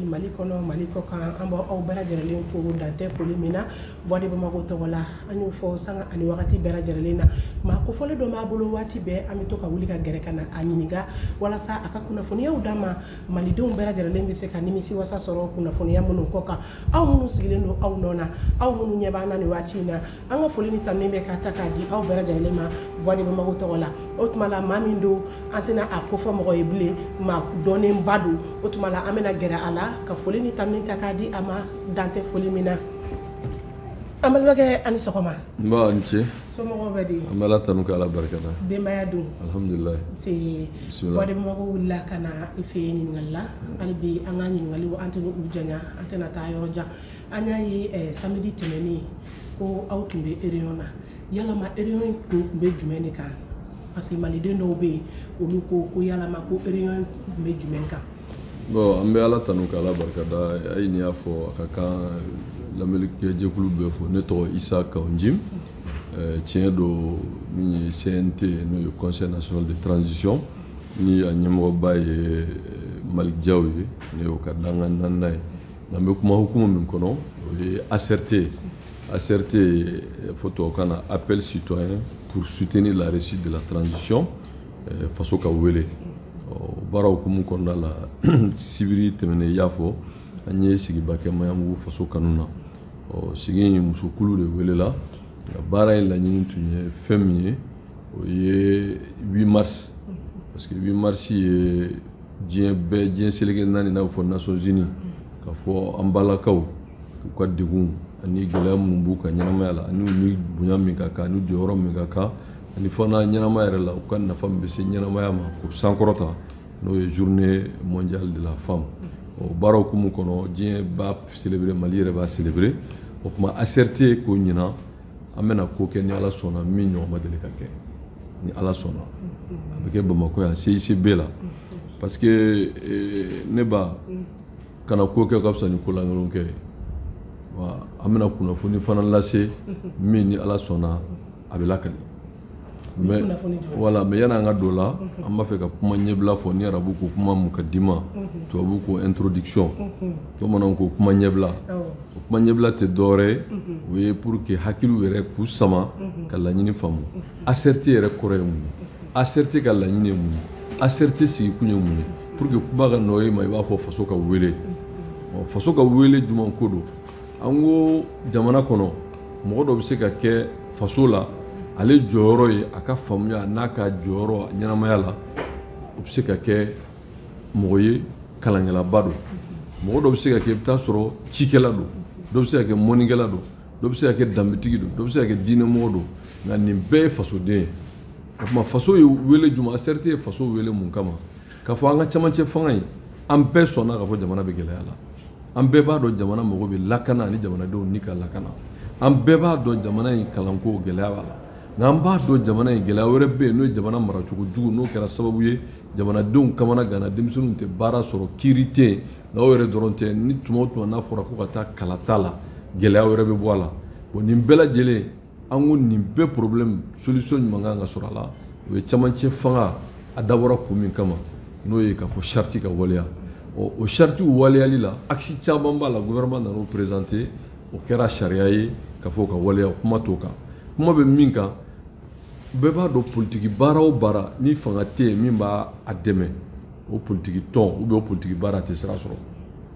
Mali kɔnɔ mali kɔ kan an b' aw bɛɛ lajɛlen fo dan tɛ foli min na voix de bamako tɔgɔ la an y'o fɔ sanga ani wagati bɛɛ lajɛlen na maa kofɔlen dɔ b'a bolo waati bɛɛ an bɛ to ka wuli ka gɛrɛ ka na a ɲininka walasa a ka kunnafoniyaw d'an ma malidenw bɛɛ lajɛlen bɛ se ka nimisi wasa sɔrɔ kunnafoniya minnu kɔ kan aw minnu sigilen don aw nɔ na aw minnu ɲɛ b'an na nin waati in na an ka foli ni tanuni bɛ ka ta k'a di aw bɛɛ lajɛlen ma voix de bamako tɔgɔ la o tuma la maa min don an tɛna a kofɔ mɔgɔ ye bilen maa dɔnnenba don o tuma la an bɛna gɛrɛ a la ka foli ni tanuni ta k'a di a ma dan tɛ foli min na an balimakɛ a ni sɔgɔma nba a ni ce Somɔgɔw bɛ di? An bɛ Ala tanu ka Ala barikada. Denbaya dun? Alihamidulila. Un see. Bisimila. Voix de Bamako wulila ka na i fɛ yen ɲininkali la. Hali bi an ka ɲininkaliw an tɛna u janya, an tɛna taa yɔrɔ jan. An y'a ye ɛɛ samedi tɛmɛnen ko aw tun bɛ réunion na. Yalama réunion in tun bɛ jumɛn de kan? Parce que maliden dɔw bɛ yen, olu ko ko yalama ko réunion in tun bɛ jumɛn kan? bon an bɛ ala tanu ka ala barikada a ye nin y'a fɔ a ka kan lamɛnnikɛjɛkulu bɛɛ fo ne tɔgɔ isa kawu njim tiɲɛ don min ye cnt n'o ye conseil national de transition ni a ɲɛmɔgɔba ye malik jaw ye ne y'o ka dankan naaninan ye n'an bɛ kuma hukumu min kɔnɔ o ye acrt acrt fɔ tubabukan na appel citoyen pour soutenir la réussite de la transition faso ka wele baara hukumu kɔnɔna la sibiri tɛmɛnen i y'a fɔ an ye sigiba kɛ maɲanbugu faso kanu na sigi in musokulu de welela baara ye laɲini tun ye fɛn min ye o ye 8 mars parce que 8 mars ye diɲɛ bɛɛ diɲɛ seleke naani n'a bɛ fɔ nations unies k'a fɔ an balakaw u ka degun ani gɛlɛya minnu b'u ka ɲɛnamaya la ani u ni bonya min ka kan ani jɔyɔrɔ min ka kan ani fana ɲɛnamaya yɛrɛ la u ka nafa min bɛ se ɲɛnamaya ma k'o sankɔrɔta n'o ye journée mondiale de la femme o baara hukumu kɔnɔ diɲɛ b'a célébrer mali yɛrɛ b'a célébrer o tuma ACRT ko ɲinan an bɛna ko kɛ ni ala sɔnna min ɲɔgɔn ma deli ka kɛ ni ala sɔnna a bɛ kɛ bamakɔ yan CICB la parce que eh, ne ba kana ko kɛ ka fisa ni ko lankolon kɛ ye wa an bɛna kunnafoni fana lase min ni ala sɔnna a bɛ lakali mais kunnafoni jumɛn? voilà mais yan'an ka don o la an b'a fɛ ka kuma ɲɛbila fɔ ni arabu ko kuma mukadima tubabu ko introduction bamananw ko kuma ɲɛbila Awɔ. o kuma ɲɛbila tɛ dɔwɛrɛ ye o ye pour que hakiliw yɛrɛ k'u sama ka laɲini faamu ACRT yɛrɛ kɔrɔ ye mun ye ACRT ka laɲini ye mun ye ACRT sigikun ye mun ye pour que kuma ka nɔgɔya i ma i b'a fɔ faso ka wele ɔ faso ka wele jumɛn ko don an ko jamana kɔnɔ mɔgɔ dɔ bɛ se ka kɛ faso la ale jɔyɔrɔ ye a ka faamuya n'a ka jɔyɔrɔ ɲɛnamaya la o bɛ se ka kɛ mɔgɔ ye kalankɛlaba don mɔgɔ dɔ bɛ se ka kɛ i bɛ taa sɔrɔ cikɛla don dɔ bɛ se ka kɛ mɔnikɛla don dɔ bɛ se ka kɛ danbetigi don dɔ bɛ se ka kɛ diinɛmɔgɔ don nka nin bɛɛ ye fasoden ye o tuma faso ye wele jumɛn ACRT ye faso wele mun kama K'a fɔ an ka camancɛ fanga in an bɛɛ sɔnna k'a fɔ jamana bɛ gɛlɛya la an bɛɛ b'a dɔn jamana mago bɛ lakana ani jamanadenw ni ka lakana an bɛɛ b'a dɔn jamana in kalanko gɛlɛya b'a la nka an b'a dɔn jamana in gɛlɛya wɛrɛ bɛ yen n'o ye jamana maracogo jugu n'o kɛra sababu ye jamanadenw kamanaganna denmisɛnninw tɛ baara sɔrɔ kiiri tɛ yen nka o yɛrɛ dɔrɔn tɛ ni tuma o tuma n'a fɔra ko ka taa kalata la gɛlɛya wɛrɛ bɛ bɔ a la bon nin bɛɛ lajɛlen An ko nin bɛɛ problème solution ɲuman ka kan ka sɔrɔ a la, o ye camancɛ fanga a dabɔra kun min kama n'o ye k'a fɔ charte ka waleya, ɔ o charte waleyali la axe caman b'a la gouvernement nan'o présenter o kɛra sariya ye k'a fɔ o ka waleya kuma t'o kan, kuma bɛ min kan bɛɛ b'a dɔn politiki baara o baara ni fanga tɛ yen min b'a dɛmɛ o politiki tɔn ou bien o politiki baara a tɛ sira sɔrɔ,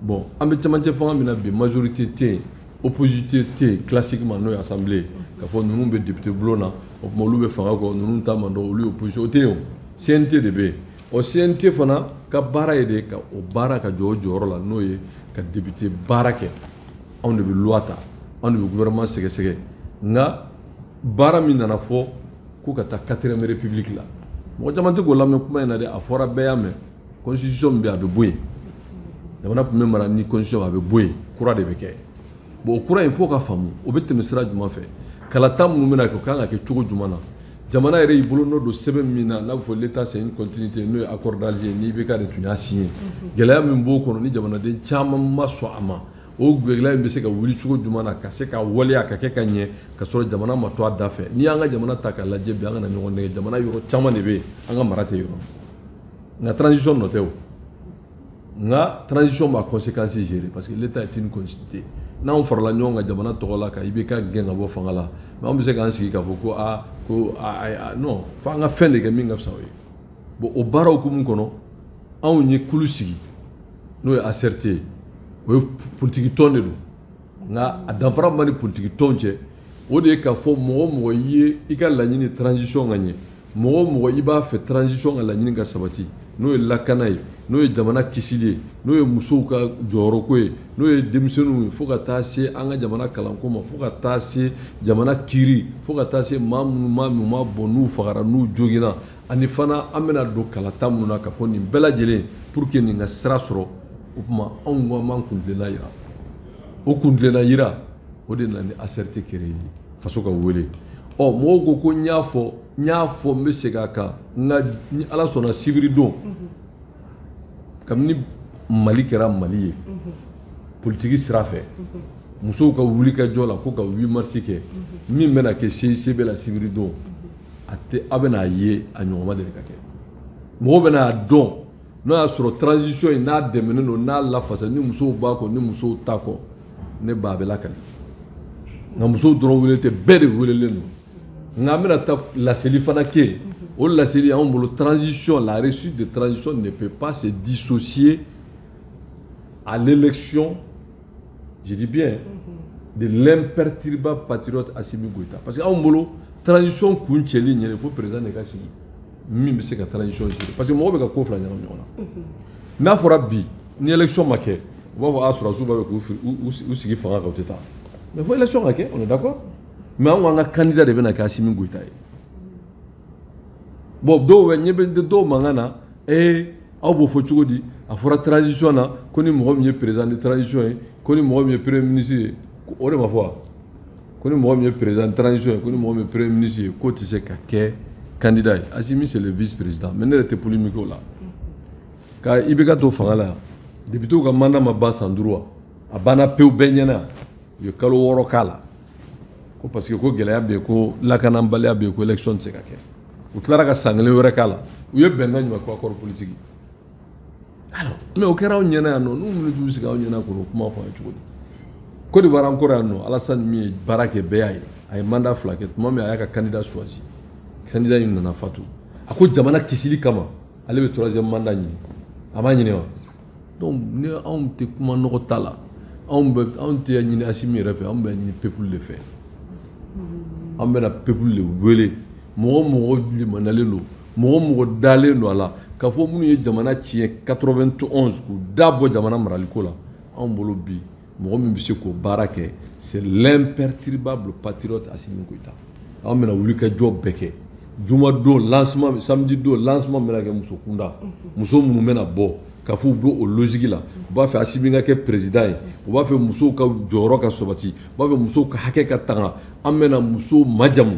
bon an bɛ camancɛ fanga min na bi majorité tɛ yen. opposition tɛ yen classiquement n'o ye assemblée k'a fɔ ninnu bɛ député bulon na o tuma olu bɛ fanga kɔ ninnu ta man dɔn olu ye opposition o tɛ yen o CNT de bɛ yen ɔ CNT fana ka baara ye de ka o baara ka jɔ o jɔyɔrɔ la n'o ye ka député baara kɛ anw de bɛ loi ta anw de bɛ gouvernement sɛgɛsɛgɛ nka baara min nana fɔ ko ka taa quatrième république la mɔgɔ caman tɛ k'o lamɛn kuma in na dɛ a fɔra bɛɛ y'a mɛn constitution min bɛ yen a bɛ bɔ yen jamana tun bɛ mara ni constitution a bɛ bɔ yen kura de bɛ kɛ bon o kura in fo k'a faamu o bɛ tɛmɛ sira jumɛn fɛ kalata minnu bɛna kɛ o kan ka kɛ cogo jumɛn na jamana yɛrɛ y'i bolonɔ don sɛbɛn min na n'a bɛ fɔ l'état c'est une continuité n'o ye accord d'Alger ni IBK de tun y'a signé gɛlɛya min b'o kɔnɔ ni jamanaden caman ma sɔn a ma o gɛlɛya in bɛ se ka wuli cogo jumɛn na ka se ka waleya ka kɛ ka ɲɛ ka sɔrɔ jamana ma to a da fɛ n'i y'an ka jamana ta k'a lajɛ bi an kana ɲɔgɔn nɛgɛn jamana yɔrɔ caman de bɛ yen an ka mara tɛ yɔrɔ nka transition nɔ tɛ o nka transition b'a conséquence gérer parce que l'état est une continuité n'anw farala ɲɔgɔn kan jamana tɔgɔ la ka IBK gɛn ka bɔ fanga la mais anw bɛ se k'an sigi k'a fɔ ko aa ko aa non fo an ka fɛn de kɛ min ka fisa o ye bon o baara hukumu kɔnɔ anw ye kulu sigi n'o ye ACRT ye o ye politiki tɔn de don nka a danfara min b'a ni politiki tɔn cɛ o de ye k'a fɔ mɔgɔ o mɔgɔ ye i ka laɲini transition ka ɲɛ mɔgɔ o mɔgɔ i b'a fɛ transition ka laɲini ka sabati n'o ye lakana ye n'o ye jamana kisili ye n'o ye musow ka jɔyɔrɔko ye n'o ye denmisɛnninw ye fo ka taa se an ka jamana kalanko ma fo ka taa se jamana kiri fo ka taa se maa minnu ma n'u ma bɔn n'u fagara n'u joginna ani fana an bɛna don kalata minnu na k'a fɔ nin bɛɛ lajɛlen pour que nin ka sira sɔrɔ o tuma anw ko an b'an kuntilenna yira o kuntilenna yira o de nana ni ACRT créer ye faso ka wele ɔ mɔgɔw ko ko n y'a fɔ n y'a fɔ n bɛ segin a kan nka ni ala sɔnna sibiridon kabini mali kɛra mali ye politiki sira fɛ musow ka wuli ka jɔ la ko ka 8 mars kɛ min bɛna kɛ CICB la sibiridon a tɛ a bɛna a ye a ɲɔgɔn ma deli ka kɛ mɔgɔw bɛna a dɔn N'o y'a sɔrɔ transition in n'a dɛmɛnen don n'a lafasa ni musow b'a kɔ ni musow t'a kɔ ne b'a bɛɛ lakali nka musow dɔrɔn wele tɛ bɛɛ de welelen don nka an bɛna taa laseli fana kɛ o laseli anw bolo transition la réussite de transition ne peut pas se dissocier à l'élection je dis bien de l'imperturbable patriote Assimi Goïta parce que anw bolo transition kuncɛli ɲɛ de fo président de ka sigi min bɛ se ka transition gérer parce que mɔgɔ bɛ ka ko fila ɲagami ɲɔgɔn na n'a fɔra bi ni élection ma kɛ u b'a fɔ a ah, sɔrɔdasiw b'a fɛ k'u sigi fanga kan u tɛ taa mais fo élection ka kɛ on est d'accord mais an ko an ka candidat de bɛna kɛ Assimi Goïta ye bon dɔw bɛ yen n bɛ dɔw mankan na ee aw b'o fɔ cogo di a fɔra transition na ko ni mɔgɔ min ye président de transition ye ko ni mɔgɔ min ye premier ministre ye o de ma fɔ wa ko ni mɔgɔ min ye président transition ye ko ni mɔgɔ min ye premier ministre ye k'o tɛ se ka kɛ candidat ye Assimi c'est le vice président mais ne yɛrɛ tɛ polémique o la ka IBK to fanga la yan députés ka mandat ma ban san duuru wa a banna pewu bɛɛ ɲɛna u ye kalo wɔɔrɔ k'a la ko parce que ko gɛlɛya bɛ yen ko lakananbaliya bɛ yen ko élection tɛ se ka kɛ u tilara ka san kelen wɛrɛ k'a la u ye bɛnkan jumɛn kɛ accord politique alors mais o kɛra anw ɲɛna yan nɔ n'u wuli t'u sigi anw ɲɛna k'o kuma fɔ an ye cogo di Côte d'Ivoire an kɔrɔ yan nɔ Alassane min ye baara kɛ bɛɛ y'a ye a ye mandat fila kɛ tuma min a y'a ka candidat choisi candidat in nana fatu a ko jamana kisili kama ale bɛ troisième mandat ɲini a m'a ɲini wa donc ni anw tɛ kuma nɔgɔ ta la anw bɛ anw t'a ɲini Assimi yɛrɛ fɛ anw b'a ɲini peuple de fɛ an bɛna peuple de wele mɔgɔ o mɔgɔ limaniyalen don Mɔgɔ o mɔgɔ dalen don a la k'a fɔ minnu ye jamana tiɲɛ 91 k'u da bɔ jamana maraliko la anw bolo bi mɔgɔ min bɛ se k'o baara kɛ c'est l'imperturbable patriote Assimi Goïta an bɛna wulikajɔ bɛɛ kɛ juma don lancement samedi don lancement bɛna kɛ muso kunda muso minnu bɛna bɔ k'a fɔ u bɛ o logique la u b'a fɛ Assimi ka kɛ président ye u b'a fɛ musow ka jɔyɔrɔ ka sabati u b'a fɛ musow ka hakɛ ka tanga an bɛna musow majamu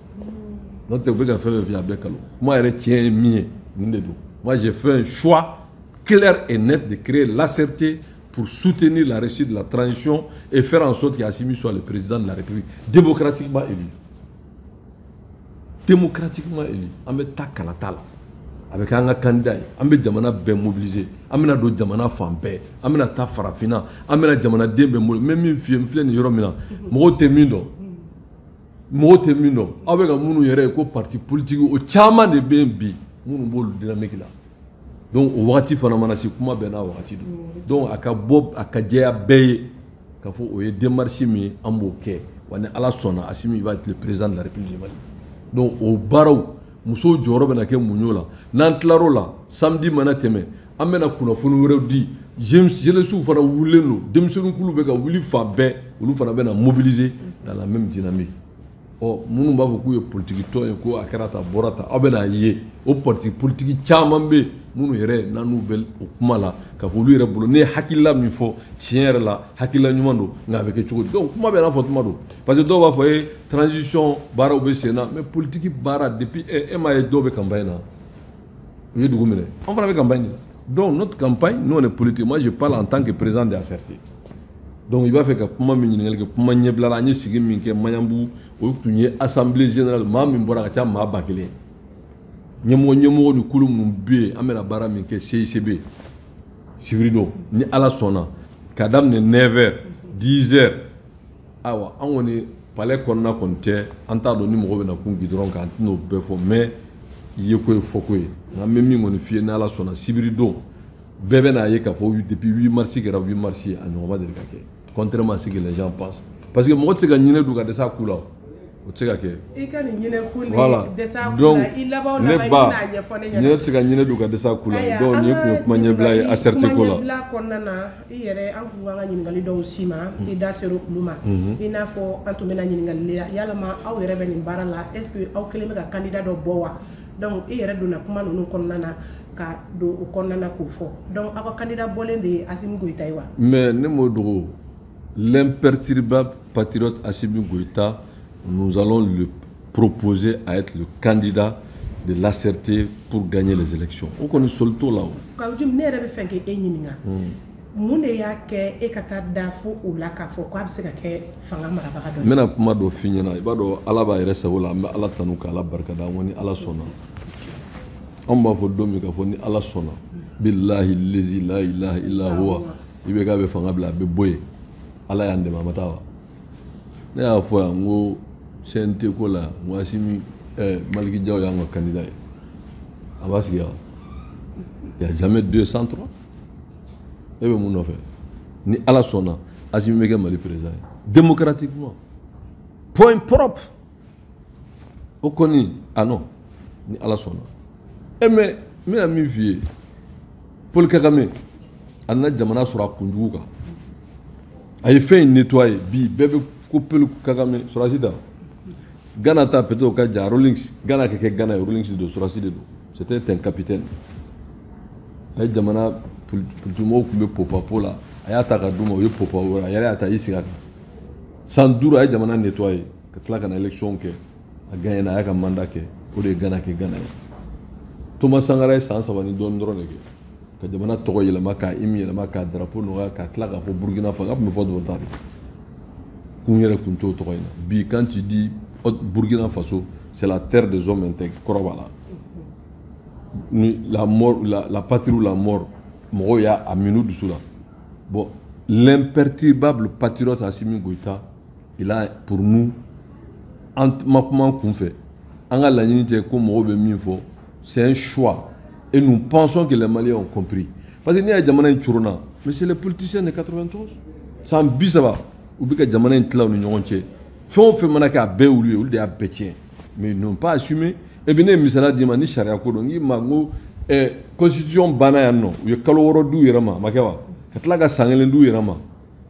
n'o tɛ u bɛ ka fɛn fɛn fɔ a bɛɛ kalon kuma yɛrɛ tiɲɛ ye min ye nin de don moi j'ai fait un choix clair et net de créer l'ACRT pour soutenir la réussite de la transition et faire en sorte qu'Assimi soit le président de la République démocratiquement élu démocratiquement élu an bɛ taa kalata la a bɛ kɛ an ka kandida ye an bɛ jamana bɛɛ mobiliser an bɛna don jamana fan bɛɛ an bɛna taa farafinna an bɛna jamanaden bɛɛ mobiliser n bɛ min f'i ye n filɛ nin yɔrɔ min na mɔgɔw tɛ min dɔn mɔgɔ tɛ min dɔn aw bɛ ka minnu yɛrɛ ye ko parti politique o caman de bɛ yen bi minnu b'olu dynamique la donc o wagati fana mana se kuma bɛɛ n'a wagati don donc a ka bɔ a ka jɛya bɛɛ ye k'a fɔ o ye démarche min ye an b'o kɛ wa ni ala sɔnna Asimi va être le président de la république du Mali donc o baaraw musow jɔyɔrɔ bɛna kɛ mun y'o la n'an tilar'o la samedi mana tɛmɛ An bɛna kunnafoni wɛrɛw di jeunesses fana wulilen don denmisɛnninkulu bɛ ka wuli fan bɛɛ olu fana bɛna mobiliser dans la même dynamique ɔ minnu b'a fɔ k'u ye politikitɔn ye ko a kɛra tan a bɔra tan aw bɛn'a ye o parti politiki caman bɛ yen minnu yɛrɛ n'u bɛ o kuma la k'a fɔ olu yɛrɛ bolo ne ye hakilila min fɔ tiɲɛ yɛrɛ la hakilila ɲuman don nka a bɛ kɛ cogo di donc kuma bɛɛ n'a fɔ tuma don parce que dɔw b'a fɔ e transition baaraw bɛ sen na mais politiki baara depuis e m'a ye dɔw bɛ campagne na u ye dugu minɛ an fana bɛ campagne na donc notre campagne nous on est politique moi je parle en tant que président de ACRT donc i b'a fɛ ka kuma min ɲininkali kɛ kuma ɲɛbila la an ye sigi min kɛ maɲanbugu o tun ye assemblée générale maa min bɔra ka ca maa ba kelen ɲɛmɔgɔ ɲɛmɔgɔ ni kulu minnu bɛ yen an bɛna baara min kɛ CICB sibiri don ni ala sɔnna ka daminɛ 9 heures 10 heures Ayiwa an kɔni palais kɔnɔna kɔni cɛ an t'a dɔn ni mɔgɔ bɛna kun bi dɔrɔn k'an tɛn'o bɛɛ fɔ mais yeko ye fɔko ye nka n bɛ min kɔni f'i ye ni ala sɔnna sibiridon bɛɛ bɛn'a ye k'a fɔ depuis 8 mars kɛra 8 mars ye a ɲɔgɔn ma deli ka kɛ contrairement à ce que les gens pensent parce que mɔgɔ tɛ se ka ɲinɛ dun ka dɛsɛ a ku la o tɛ se ka kɛ i ka nin ɲinɛ ku ni voilà dɛsɛ a ku donc la i laban o laban ne ba i bɛna a ɲɛfɔ ne ɲɛna ne tɛ se ka ɲinɛ dun ka dɛsɛ a ku la donc nin tun ye kuma ɲɛbila ye ACRT ko la ɲɛbila kɔnɔna na i yɛrɛ an tun ka kan ka ɲininkali dɔw s'i ma i da sera olu ma i n'a fɔ an tun bɛna ɲininkali la yalama aw yɛrɛ bɛ nin baara la est ce que aw kelen bɛ ka candidat dɔ bɔ wa donc i yɛrɛ donna kuma ninnu kɔnɔna na ka don o kɔnɔna na k'o fɔ donc aw ka candidat bɔlen de ye Asimi Goyita ye wa mais ne m'o dogo L'imperturbable patriote Assimi Goïta, nous allons le proposer à être le candidat de l'ACRT pour gagner les élections. O kɔni sɔsɔli t'o la. o Kawujim ne yɛrɛ b'a fɛ k'e ɲininka mun de y'a kɛ e ka taa da fo o la k'a fɔ ko a bɛ se ka kɛ fanga marabaga dɔ ye. n bɛna kuma dɔ f'i ɲɛna i b'a dɔn ala b'a yɛrɛ sago la an bɛ ala tanu ka ala barikada an ko ni ala sɔnna anw b'a fɔ don min k'a fɔ ni ala sɔnna bilahi lezi la ilaha illa huwa ibk bɛ fanga bila a bɛ bɔ yen ala y'an dɛmɛ a ma taa wa ne y'a fɔ yan n ko cnt ko la n ko asimi ɛɛ maliki jaw y'an ka kandida ye a b'a sigi yan il y a jamais deux sans trois e bɛ mun nɔfɛ ni ala sɔnna asimi bɛ kɛ mali président ye démocratiquement point propre o kɔni ah non ni ala sɔnna e eh, mais n bɛna min f'i ye paul kagame a nana jamana sɔrɔ a kunjugu kan a ye fɛn in nettoyer bi bɛɛ bɛ ko paul kagame sɔrɔdasi da ghana ta peut-être o ka jan rawlings ghana ka kɛ ghana ye rawlings de don sɔrɔdasi de don c'était un capitaine a ye jamana politimɔgɔw tun bɛ popapo la a y'a ta ka d'u ma u ye popa wɛrɛ a yɛrɛ y'a ta i sigi a kan san duuru a ye jamana nettoyer ka tila ka na élection kɛ a gagnena a y'a ka mandat kɛ o de ye ghana kɛ ghana ye thomas sankara ye san saba ni dɔɔni dɔrɔn de kɛ ka jamana tɔgɔ yɛlɛma k'a hymne yɛlɛma k'a drapeau nɔgɔya ka tila k'a fɔ burkina faso a tun bɛ fɔ haute-volta de kun yɛrɛ tun t'o tɔgɔ in na bi quand tu dis burkina faso c'est la terre des hommes intègres kɔrɔ b'a la ni la mort la, la patrie ou la mort mɔgɔw y'a a min'u dusu la bon l'imperturbable patriote Assimi Goïta Il a pour nous an ma kuma kunfɛ an ka laɲini tɛ ko mɔgɔw bɛ min fɔ c'est un choix et nous pensons que les Maliens ont compris parce que n'i y'a jamana in coronna mais c'est les politiciens de 91 san bi saba u bɛ ka jamana in tila u ni ɲɔgɔn cɛ fɛn o fɛn mana kɛ a bɛɛ olu ye olu de y'a bɛɛ tiɲɛ mais ils n'ont pas assumé et puis ne ye misaliya d'i ma ni sariya ko don n k'i ma n ko eh, constitution banna yan nɔ u ye kalo wɔɔrɔ d'u yɛrɛ ma a ma kɛ wa ka tila ka san kelen d'u yɛrɛ ma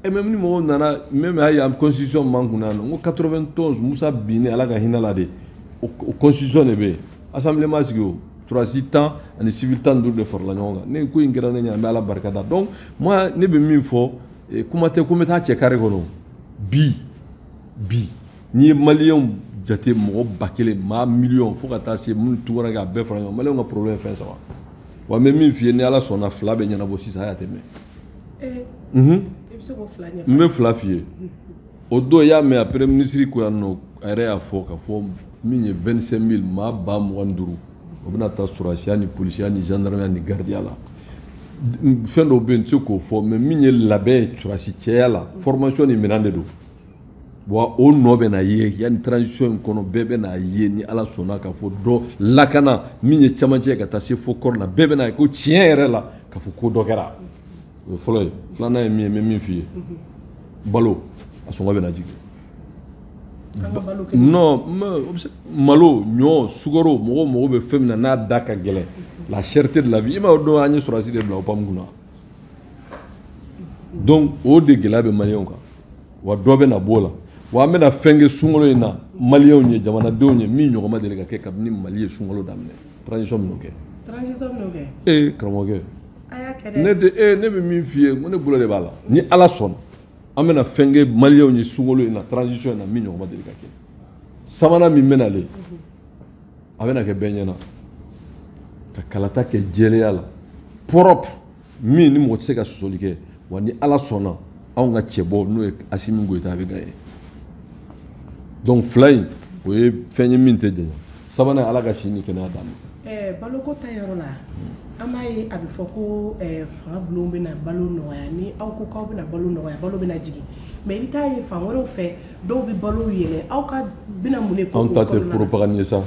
Et même ni mɔgɔw nana même a ye constitution man kunna yan ko 91 musa binni ala ka hinɛ a la de o constitution de bɛ yen assemblée ma sigi o sɔrɔdasi tan ani civil tan duuru de farala ɲɔgɔn kan ne ko in kɛra ne ɲɛ an bɛ ala barika da donc ne bɛ min fɔ kuma tɛ ko bɛ taa cɛ kari kɔnɔ bi bi n'i ye maliyɛnw jate mɔgɔ ba kelen maa miliyɔn fo ka taa se minnu tu ka bɛɛ fara ɲɔgɔn kan maliyɛnw ka problème fɛn saba wa n bɛ min f'i ye ni ala sɔnna fila bɛ ɲɛnabɔ sisan y'a tɛ eh. mhm. n bɛ fila f'i ye o don i y'a mɛn a premier ministre ko yan nɔ a yɛrɛ y'a fɔ ka fɔ min ye 25 mille maa ba mugan ni duuru o bɛna taa sɔrɔdasiya ni polisiya ni gendarmeya ni gardiya la fɛn dɔw bɛ yen n tɛ se k'o fɔ mais min ye labɛn ye sɔrɔdasi cɛya la formation ni minɛn de don wa o nɔ bɛ na ye yanni transition in kɔnɔ bɛɛ bɛ n'a ye ni ala sɔnna ka fɔ dɔ lakana min ye camancɛ ka taa se fo kɔrɔn na bɛɛ bɛ n'a ye ko tiɲɛ yɛrɛ la ka fɔ ko dɔ kɛra o ye fɔlɔ ye filanan ye min ye n bɛ min f'i ye balo a sɔngɔ bɛ na jigin non malo ɲɔ sukaro mɔgɔw mago bɛ fɛn min na n'a da ka gɛlɛn la cherté de la vie i m'a dɔn an ye sɔrɔdasi de bila opam kunna donc o de gɛlɛya bɛ maliyɛnw kan wa dɔ bɛna b'o la wa an bɛna fɛn kɛ sunkalo in na maliyɛnw ye jamanadenw ye min ɲɔgɔn ma deli ka kɛ kabini mali ye sunkalo daminɛ transition minnu kɛ transition minnu kɛ ee karamɔgɔkɛ ne de ee ne bɛ min f'i ye ko ne bolo de b'a la ni ala sɔnna an bɛna fɛn kɛ maliyɛnw ye sunkalo in na transition in na min ɲɔgɔn ma deli ka kɛ sabanan min bɛ nalen a bɛna kɛ bɛɛ ɲɛna ka kalata kɛ jɛlenya la propre min ni mɔgɔ tɛ se ka sɔsɔli kɛ wa ni ala sɔnna anw ka cɛbɔ n'o ye asimi goyita a bɛ gagner donc fila in o ye fɛn ye min tɛ janya sabanan ala ka si ni kɛnɛya d'a ma eh, baloko ta yɔrɔ la an b'a ye a bɛ fɔ ko eh, fanga bulon bɛna balo nɔgɔya ni aw ko k'aw bɛna balo nɔgɔya balo bɛna jigin mais i bɛ taa ye fan wɛrɛw fɛ dɔw bɛ balo yɛlɛ aw ka bɛna mun de kɛ anw ta tɛ propagande ye sa o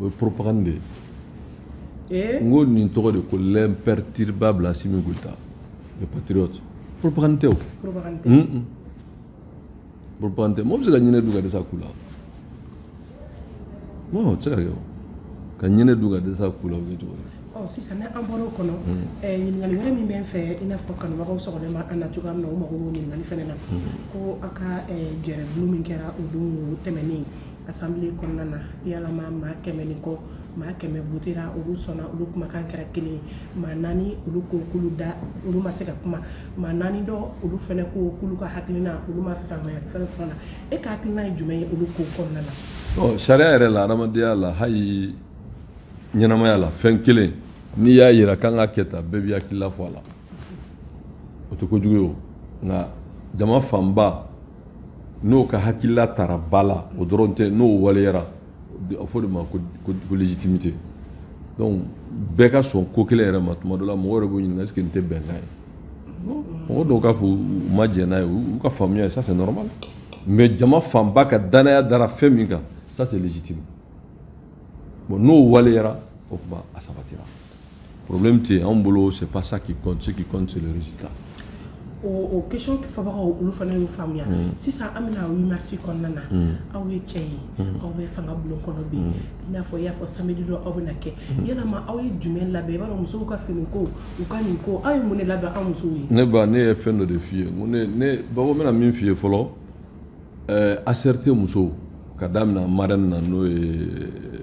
ye propagande de ye n ko nin tɔgɔ de ko l'imperturbable Assimi Goïta le patriote propagande tɛ o propagande tɛ mɔgɔ bɛ se ka ɲinɛ dun ka dɛsɛ a ku la o tɛ se ka kɛ o ka ɲinɛ dun ka dɛsɛ a ku la o bɛ cogo di sisan n'an bɔra o kɔnɔ ɲininkali wɛrɛ min bɛ n fɛ i n'a fɔ kanubagaw sɔgɔlen bɛ an na cogoya min na u mago b'o ɲininkali fana na ko aw ka gɛrɛndon min kɛra o don tɛmɛnen assemblée kɔnɔna na yala maa kɛmɛ ni kɔ maa kɛmɛ votera olu sɔnna olu kumakan kɛra kelen ye maa naani olu ko k'olu da olu ma se ka kuma maa naani dɔ olu fana ko k'olu ka hakilina olu ma faamuyali fɛn sɔrɔ a la e ka hakilina ye jumɛn ye olu ko kɔnɔna na ɔ sariya yɛrɛ la adamadenya la hali ɲɛnamaya la fɛn kelen n'i y'a yira k'an ka kɛ tan bɛɛ b'i hakilila fɔ a la o tɛ kojugu ye o nka jama fanba n'o ka hakilila tara ba la o dɔrɔn tɛ n'o waleyara a fɔ de ma ko légitimité donc bɛɛ ka sɔn ko kelen yɛrɛ ma tuma dɔ la mɔgɔ yɛrɛ b'o ɲininka est ce que nin tɛ bɛnkan ye mɔgɔ dɔw k'a fɔ u ma jɛn n'a ye u ka faamuya ye ça c'est normal mais jama fanba ka danaya dara fɛn min kan ça c'est légitime bon n'o waleyara o kuma a sabatira problème tɛ anw bolo c'est pas ça qui compte ce qui compte c'est le résultat o question fɔbagaw olu fana y'o faamuya mm. sisan an bɛna huit mars kɔnɔna na mm. aw ye cɛ ye mm. aw bɛ fanga bulon kɔnɔ bi i n'a fɔ i y'a fɔ samedi dɔ aw bɛna kɛ yalama aw ye jumɛn labɛn i b'a dɔn musow ka finiko u ka nin ko aw ye mun de labɛn an musow ye ne ba ne ye fɛn dɔ de f'i ye ko ne ne bako bɛna min f'i ye fɔlɔ ɛɛ eh, asɛrite musow ka daminɛ marraine na n'o ye eh,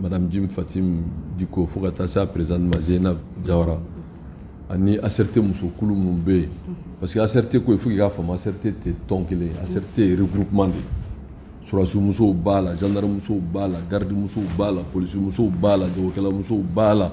madame jim fatim diko fo ka taa se a présidente ma zeynab jawara ani asɛrite musokulu minnu bɛ yen parce que asɛrite ko ye fo k'i k'a faamu asɛrite tɛ tɔn kelen ye asɛrite ye regroupement de ye sɔrɔdasimusow b'a la gendarmemusow b'a la gardimusow b'a la polisimusow b'a la jagokɛlamusow b'a la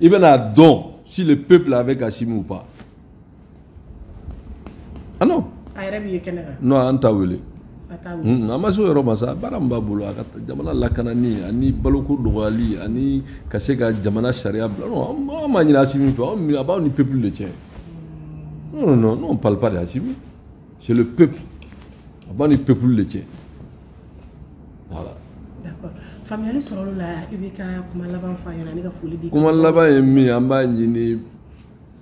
i bɛna dɔn si le peuple avec asimi ou pas ah non a yɛrɛ b'i ye kɛnɛ kan non an t'a wele an ma se o yɔrɔ ma sa baara min b'a bolo a ka jamana lakanani ani baloko dɔgɔyali ani ka se ka jamana sariya bila non an m'a ɲini asimi fɛ a b'aw ni peuple de cɛ non non non on parle pas de asimi c'est le peuple a b'a ni peuple de cɛ voilà. d'accord faamuyali sɔrɔla o la i b'i ka kuma laban fɔ an ɲɛna ani ka foli di. kuma laban ye min ye an b'a ɲini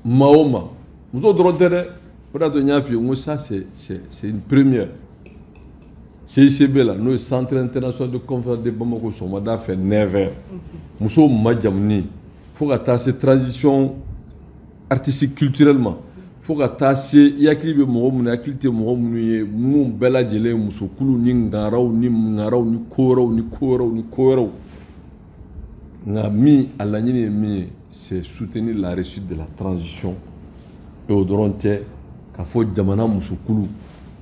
maa o maa muso dɔrɔn tɛ dɛ o de y'a to n y'a f'i ye n ko ça c'est c'est c'est une première CICB la n'o ye centre international de conférence de Bamako sɔgɔmada fɛ 9 heures musow majamuni fo ka taa se transition. artiste culturellement fo ka taa se i hakili bɛ mɔgɔ minnu hakili tɛ mɔgɔ minnu ye minnu bɛɛ lajɛlen musokulu ni ngaraw ni ngaraw ni ko wɛrɛw ni ko wɛrɛw ni ko wɛrɛw nka min a laɲini ye min ye c'est soutenir la réussite de la transition et o dɔrɔn tɛ ka fɔ jamana musokulu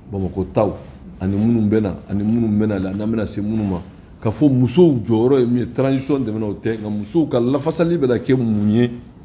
bamakɔ taw ani minnu bɛ na ani minnu bɛ na la n'an bɛna se minnu ma ka fɔ musow jɔyɔrɔ ye min ye transition dɛmɛ na o tɛ nka musow ka lafasali bɛ na kɛ mun ye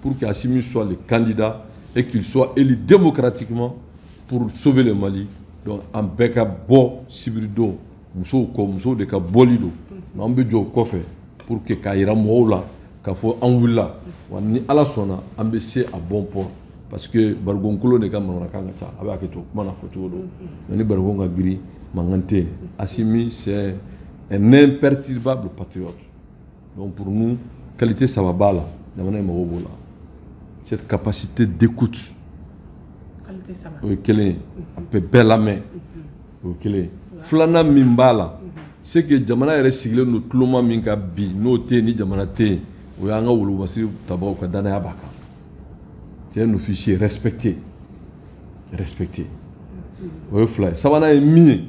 Pour que Assimi soit le candidat et qu'il soit élu démocratiquement pour sauver le Mali. Donc, an bɛɛ ka bɔ sibiri don musow kɔ musow de ka bɔli don mais an bɛ jɔ u kɔfɛ pour que k'a jira mɔgɔw la k'a fɔ an wulila wa ni ala sɔnna an bɛ se à bon port parce que barikɔn kolon de ka manamanakan ka ca a bɛ hakɛ to kuma na fɔ cogo don mais ni barikɔn ka girin mankan tɛ yen asimi c'est un imperturbable patriote Donc pour nous, qualité saba b'a la. Jamana in mago b'o la. Cette capacité d'écoute. Qualité saba. O ye kelen ye. A bɛ bɛɛ lamɛn. O ye kelen ye. Filanan min b'a la. C'est que jamana yɛrɛ sigilen don tuloma min kan bi n'o tɛ yen jamana tɛ yen o y'an ka wolobasiri tabaw ka danaya b'a kan. C'est un officier respecté. Respecté. O ye fila ye. Sabanan ye min ye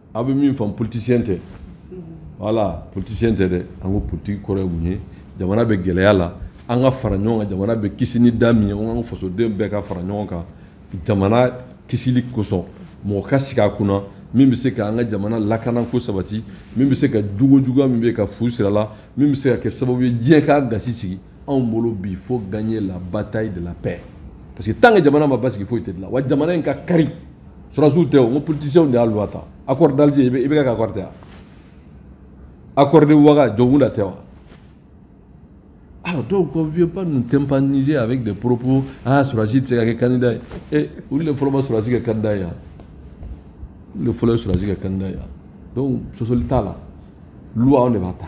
aw bɛ min faamu politicien tɛ voilà politicien tɛ dɛ an ko politique kɔrɔ ye mun ye jamana bɛ gɛlɛya la an ka fara ɲɔgɔn kan jamana bɛ kisi ni da min ye an ka fasoden bɛɛ ka fara ɲɔgɔn kan jamana kisili kosɔn mɔgɔ ka sigi a kunna min bɛ se ka an ka jamana lakana k'o sabati min bɛ se ka jogo juguya min bɛ ka fu siri a la min bɛ se ka kɛ sababu ye diɲɛ k'a gasi sigi anw bolo bi faut gagner la bataille de la paix parce que tant que jamana ma basigi foyi tɛ dilan wa jamana in ka kari sɔrɔsiw tɛ o n ko politiciens de y'a loi ta accord d'Alger IB IBK accord tɛ wa accord de Ouaga Dioncounda tɛ wa alors donc on vient pas nous tympaniser avec des propos ah sɔrɔsi tɛ se ka kɛ candidat ye eh olu de fɔlɔ ma sɔrɔsi kɛ candidat ye wa olu de fɔlɔ ye sɔrɔsi kɛ candidat ye wa donc sɔsɔli t'a la loi anw de b'a ta.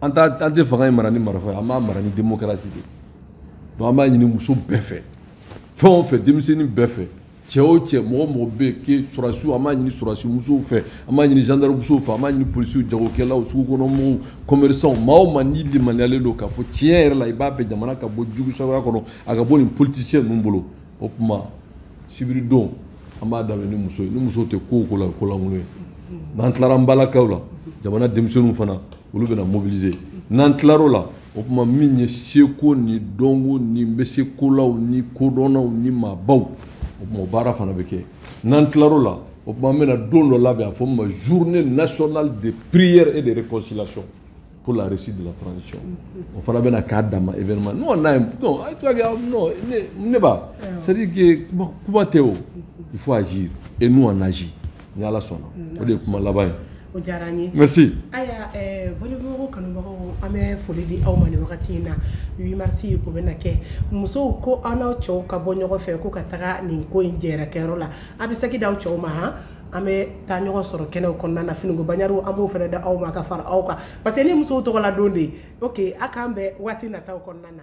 an an tɛ fanga in mara ni marifa ye an b'a mara ni démocratie de donc an b'a ɲini muso bɛɛ fɛ fɛn o fɛn denmisɛnnin bɛɛ fɛ cɛ o cɛ mɔgɔ o mɔgɔ bɛ yen que sɔrɔdasiw an b'a ɲini sɔrɔdasi musow fɛ an b'a ɲini gendarmemusow fɛ an b'a ɲini polisiw jagokɛlaw sugukɔnɔmɔgɔw commerçants maa o maa n'i limaniyalen don k'a fɔ tiɲɛ yɛrɛ la i b'a fɛ jamana ka bɔ jugusagoya kɔnɔ a ka bɔ nin politisiyɛn ninnu bolo o tuma sibiridon an b'a daminɛ ni muso ni muso tɛ ko o ko la ko lankolon ye n'an tilara an balakaw la jamana denmisɛnninw fana olu bɛna mobiliser n'an tilar'o la o tuma min ye seko ni dɔnko ni n bɛ se kolaw ni kodɔnnaw ni maabaw o tuma o baara fana bɛ kɛ n'an tilar'o la o tuma an bɛna don dɔ labɛn a fɔ min ma journée nationale de prière et de réconciliation pour la réussite de la transition o fana bɛna k'a dama événement n'o n'a ye non a toi gars non ne ne ba c'est à dire que kuma tɛ o il faut agir et nous on agit ni ala sɔnna o de ye kuma laban ye o diyara an ye merci ayiwa eh, filɛbagaw kanubagaw an bɛ foli di aw ma nin wagati in na 8 mars o bɛna kɛ musow ko an n'aw cɛw ka bɔ ɲɔgɔn fɛ ko ka taga nin ko in jɛrɛkɛyɔrɔ la a bɛ saki d'aw cɛw ma han an bɛ taa ɲɔgɔn sɔrɔ kɛnɛw kɔnɔna na finiko baɲariw an b'o fana da aw ma ka fara aw kan parce que nin musow tɔgɔla don de ye ok aw k'an bɛn waati nataw kɔnɔna na